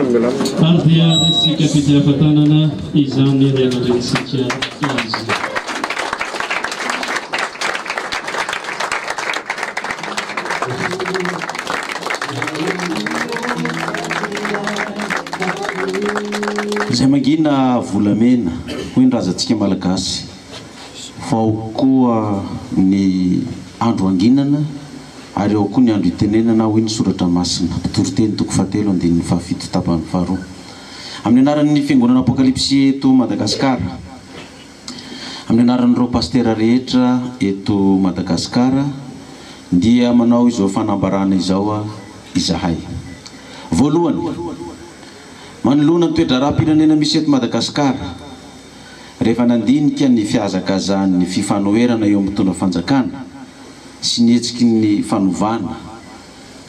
Ary dia isika vita afa-tanana izany ry aman-drenintsika azy. Izay mangina volamena, hoy ny razantsika malagasy. Vao koa ny andro hanginana Ary ao koa ny andro itenenana, hoy ny soratra masina, Mpitory teny toko fahatelo andininy fahafito tapany faharoa. Amin'ny anaran'ny fiangonana Apokalipsy eto Madagasikara, amin'ny anaran'ireo pastera rehetra eto Madagasikara dia manao izao fanambarana izao izahay. Voalohany, manoloana ny toe-draharaham-pirenena misy eto Madagasikara, rehefa nandinika ny fihazakazahan'ny fifanoherana eo amin'ny mpitondra fanjakana sy ny hetsiky ny fanovana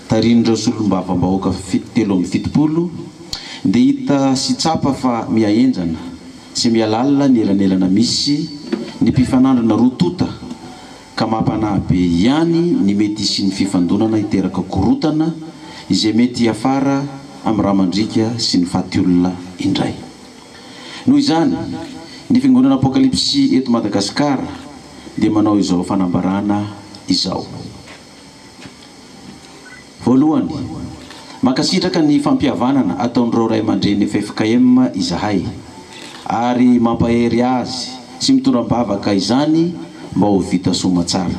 tarihin'ireo solombavambahoaka telo amby fitopolo dia hita sy tsapa fa miha henjana sy miha lalina ny elanelana misy ny mpifanandrina roa tonta ka mampanahy be ihany ny mety hisian'ny fifandonana hiteraka korontana izay mety hiafara amin'ny ramandriaka sy ny fatiolona indray. Noho izany, ny Fiangonana Apokalypsy eto Madagasikara dia manao izao fanambarana izao. Voalohany, mankasitraka ny fampihavanana ataon'ireo Ray aman-dReny ffkm izahay, ary mampahery azy sy mitondra am-bavaka izany mba ho vita soa aman-tsara.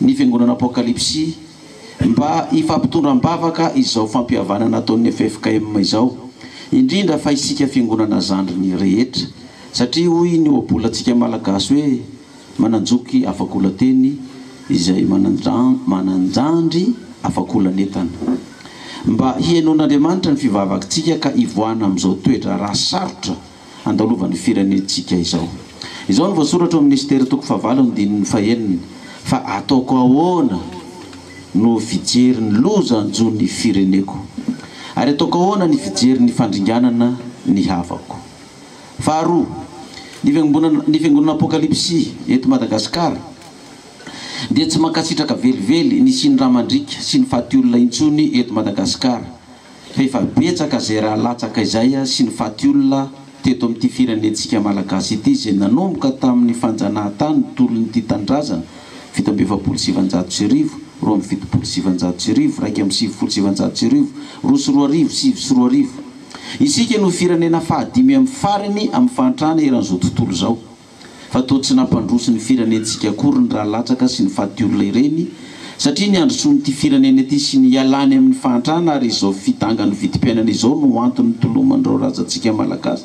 ny Fiangonana Apokalypsy mba hifampitondra am-bavaka izao fampihavanana ataon'ny ffkm izao, indrindra fa isika Fiangonana zandriny rehetra, satria hoy ny ohabolantsika Malagasy hoe, Manan-joky afakolan-teny izay manan-jandry afakolan'entana. Mba hihainoan'Andriamanitra ny fivavakintsika ka hivoahana amin'izao toe-draharaha sarotra. handalovan'ny firenentsika izao. Izao no voasoratra ao amin'ny Esitera toko fahavalo andininy fahenina, Fa ataoko ahoana no fijery ny loza hanjo ny fireneko? Ary ataoko ahoana ny fijery ny fandringanana ny havako? Faharoa, ny fiangombonana, ny fiangonana Apokalypsy eto Madagasikara dia tsy mankasitraka velively ny hisian'ny ra mandriaka sy ny faty olona intsony eto Madagasikara, F'efa betsaka izay ra latsaka izay sy ny faty olona teto amin'ity firenentsika Malagasy ity izay nanomboka tamin'ny fanjanahantany ny tolon'ity tanindrazana fito amby efapolo sy sivinjato sy arivo, roa amby fitopolo sy sivinjato sy arivo, iraika amby sivifolo sy sivinjato sy arivo, roa sy roa arivo, sivy sy roa arivo. Isika no firenena fahadimy amin'ny farany amin'ny fahantrana eran'izao tontolo izao. Fa toa tsy nampandroso ny firenentsika akory ny rà latsaka sy ny fatiolona ireny satria ny handrosoan'ity firenena ity sy ny hialany amin'ny fahantrana ary izao fidangan'ny vidim-piainana izao no antony nitoloman'ireo razantsika Malagasy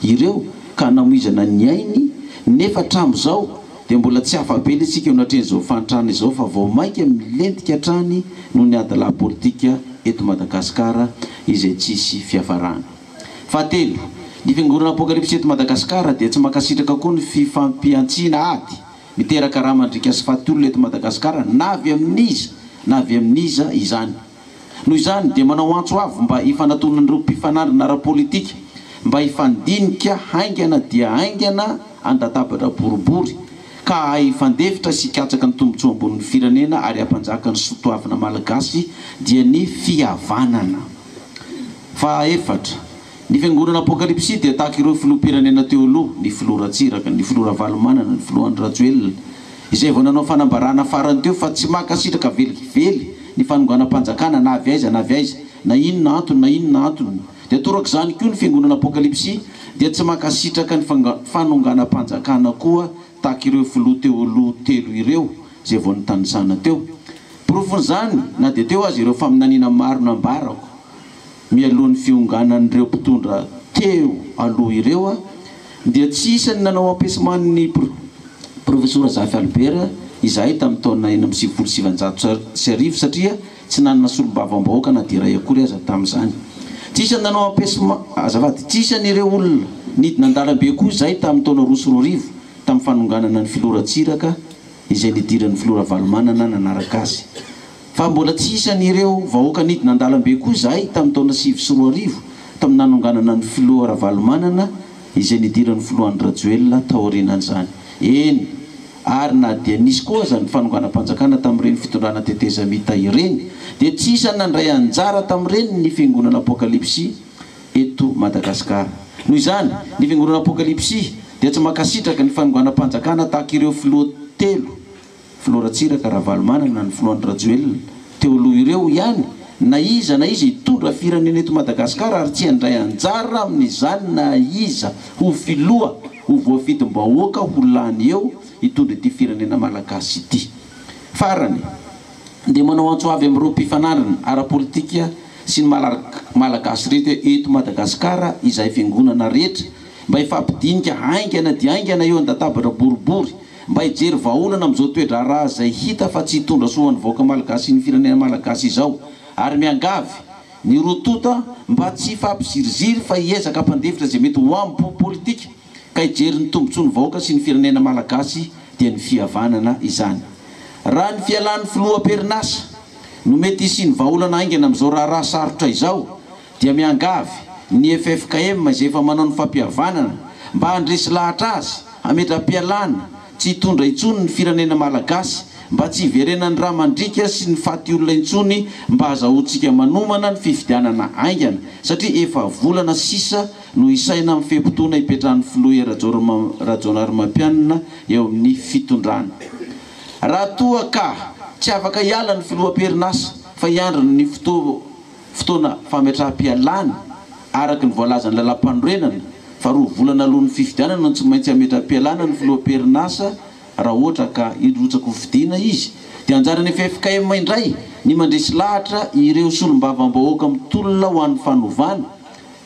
ireo ka hanamoizana ny ainy nefa hatramin'izao dia mbola tsy afa-be ny antsika eo anatrehan'izao fahantrana izao fa vao mainka milentika hatrany noho ny ady lahy politika eto Madagasikara izay tsisy fiafarany. Fahatelo, ny fiangoran'ny Apokalypsy eto Madagasikara dia tsy mankasitraka koa ny fifampihantsiana ady miteraka rà mandriaka sy faty olona eto Madagasikara na avy amin'iza na avy amin'iza izany. Noho izany dia manao antso avo mba hifanatonan'ireo mpifanandrina ara-politika mba hifandinika haingana dia haingana an-databatra boribory ka hahay hifandefitra sy hikatsaka ny tombotsoam-bon'ny firenena ary hampanjaka ny soatoavina Malagasy dia ny fihavanana. Fahaefatra, ny fiangonana apokalypsy dia tahaka ireo filoham-pirenena teo aloha, ny filoha Ratsiraka, ny filoha Ravalomanana, ny filoha Andry Rajoelina, izay vao nanao fanambarana farany teo fa tsy mankasitraka velively ny fanonganam-panjakana na avy aiza na avy aiza, na inona antony na inona antony, dia torak'izany koa ny fiangonana apokalypsy dia tsy mankasitraka ny fanonganam-panjakana koa tahaka ireo filoha teo aloha telo ireo izay vao nitanisana teo. Porofon'izany na dia teo aza ireo faminaniana maro nambarako mialohan'ny fionganan'ireo mpitondra teo aloha ireo dia tsy isan'ny nanao ampesement ny Profesora Zafy Albert izahay tamin'ny taona enina amby sivifolo sy sivinjato sy arivo satria Tsy nanana solombavambahoaka na dia iray akory aza tamin'izany. Tsy isan'ny nanao ampesma, azafady, tsy isan'ireo olona nidina an-dalambe koa izay tamin'ny taona roa sy roa arivo, tamin'ny fanonganana ny filoha Ratsiraka izay nidiran'ny filoha Ravalomanana nanaraka azy. Fa mbola tsy isan'ireo vahoaka nidina an-dalambe koa izahay tamin'ny taona sivy sy roa arivo, tamin'ny nanonganana ny filoha Ravalomanana izay nidiran'ny filoha Andry Rajoelina taorianan'izany. Eny. ary na dia nisy koa aza ny fanonganam-panjakana tamin'ireny fitondrana tetezamita ireny dia tsy isan'ny nandray anjara tamin'ireny ny Fiangonana Apokalypsy eto Madagasikara. Noho izany, ny Fiangonana Apokalypsy dia tsy mankasitraka ny fanonganam-panjakana tahaka ireo filoha telo, Filoha Ratsiraka Ravalomanana, ny Filoha Andry Rajoelina, teo aloha ireo ihany na iza na iza hitondra firenena eto Madagascar ary tsy handray anjara amin'izany na iza ho filoha ho voafidim-bahoaka ho lany eo hitondra ity firenena Malagasy ity. Farany dia manao antso avy amin'ireo mpifanandrina ara-politika sy ny Malagasy rehetra eto Madagascar izahay fiangonana rehetra mba hifampidinika haingana dia haingana eo an-databatra boribory Mba hijery vahaolana amin'izao toe-draharaha izay hita fa tsy hitondra soa ho an'ny vahoaka malagasy sy ny firenena malagasy izao ary miangavy ny roa tonta mba tsy hifampiziriziry fa hiezaka hampandefitra izay mety ho ambo politika ka hijery ny tombontsoan'ny vahoaka sy ny firenena malagasy dia ny fihavanana izany. Raha ny fialan'ny filoha am-perinasa no mety hisian'ny vahaolana haingana amin'izao raharaha sarotra izao, dia miangavy ny ffkm izay efa manao ny fampihavanana mba handresy lahatra azy hametra-pialana tsy hitondra intsony ny firenena malagasy mba tsy hiverenan'ny ra mandriaka sy ny faty olona intsony mba hazahoantsika manomana ny fifidianana aingana satria efa volana sisa no isaina amin'ny fe-potoana hipetrahan'ny filoha hery rajaonarimampianina eo amin'ny fitondrana raha toa ka tsy afaka hiala ny filoha am-perinasa fa hiandry ny fotoa Fotoana fametraham-pialana, Araka ny voalazan'ny Lalàmpanorenana fa roa volana alohan' ny fifidianana no tsy maintsy hametra-pialana ny filoha am-perinasa raha ohatra ka hirotsakofidiana izy, dia anjaran'ny ffkm indray ny mandresy lahatra ireo solombavambahoaka mitolona ho an'ny fanovana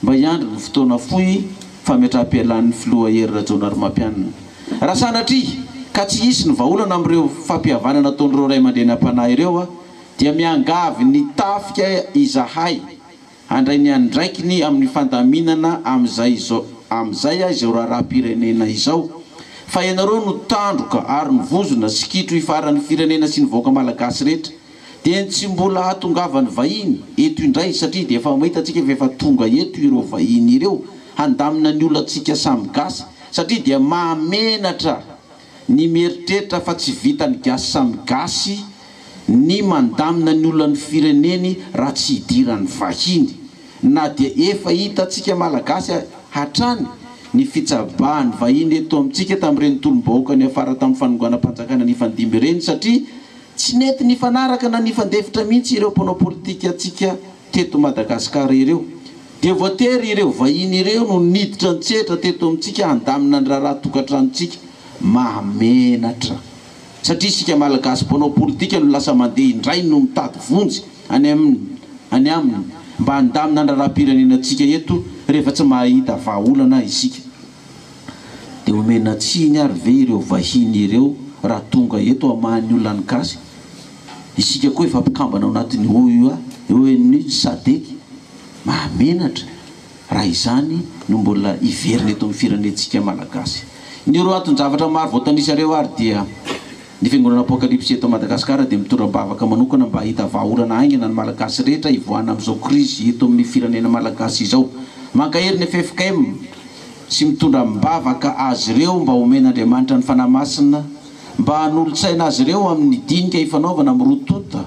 mba hiandry ny fotoana fohy fametraham-pialan'ny filoha Hery Rajaonarimampianina. Raha sanatria ka tsy hisy ny vahaolana amin'ireo fampihavanana ataon'ireo ray aman-dreny am-panahy ireo Dia miangavy ny tafika izahay handray ny andraikiny amin'ny fandaminana amin'izay amin'izay izao raharaham-pirenena izao, fa ianareo no tandroka ary ny vozona sy kitro hifaran'ny firenena sy ny vahoaka malagasy rehetra. Dia ny tsy mbola hahatongavan'ny vahiny eto indray, satria dia efa mahita antsika fa efa tonga eto ireo vahiny ireo, handamina ny olantsika samy gasy, satria dia mahamenatra Ny mieritreritra fa tsy vitan'ny gasy samy gasy ny mandamina ny olan'ny fireneny raha tsy idiran'ny vahiny na dia efa hitantsika malagasy hatrany ny fitsabahan'ny vahiny eto amintsika tamin'ireny tolom-bahoaka niafara tamin'ny fanonganam-panjakana nifandimby ireny satria tsy nety nifanaraka na nifandefitra mihitsy ireo mpanao politikantsika Teto Madagasikara ireo, dia voatery ireo vahiny ireo no niditra an-tsehatra teto amintsika handamina ny raharaha tokantranontsika. Mahamenatra. Satria isika Malagasy mpanao politika no lasa mandeha indray no mitady vonjy any aminy any aminy mba handamina ny raharaham-pirenenantsika eto rehefa tsy mahahita vahaolana isika. Dia omena tsiny ary ve ireo vahiny ireo raha tonga eto hamaha ny olan'ny gasy? Isika koa efa mpikambana ao anatin'ny OUA, ONU, Sadc, mahamenatra raha izany no mbola hiverina eto amin'ny firenentsika Malagasy. Ny roa anton-javatra maro voatanisareo ary dia, ny fiangonana Apocalypse eto Madagasikara dia mitondra am-bavaka manokana mba hahita vahaolana haingana ny Malagasy rehetra hivoahana amin'izao krizy eto amin'ny firenena Malagasy izao. Mankahery ny ffkm sy mitondra am-bavaka azy ireo mba homen'Andriamanitra ny fanahy masina mba hanolotsaina azy ireo amin'ny dinika ifanaovana amin'ny roa tonta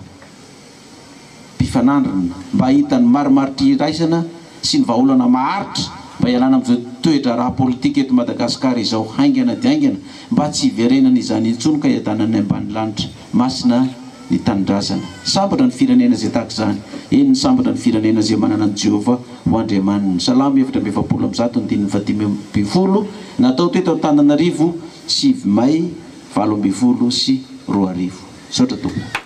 mpifanandrina mba hahita ny marimaritra iraisana sy ny vahaolana maharitra mba hialana amin'izao toe-draharaha politika eto Madagasikara izao haingana dia haingana mba tsy hiverenana izany intsony ka hiadanan'ny ambanilanitra masina ny tanindrazana. Sambatra ny firenena izay tahaka izany, eny, sambatra ny firenena izay manana an'i Jehovah ho Andriamaniny. Salamo efatra amby efapolo amby zato andininy fahadimy ambin'ny folo, natao teto Antananarivo, sivy may valo ambin'ny folo sy roa arivo. Misaotra tompoko.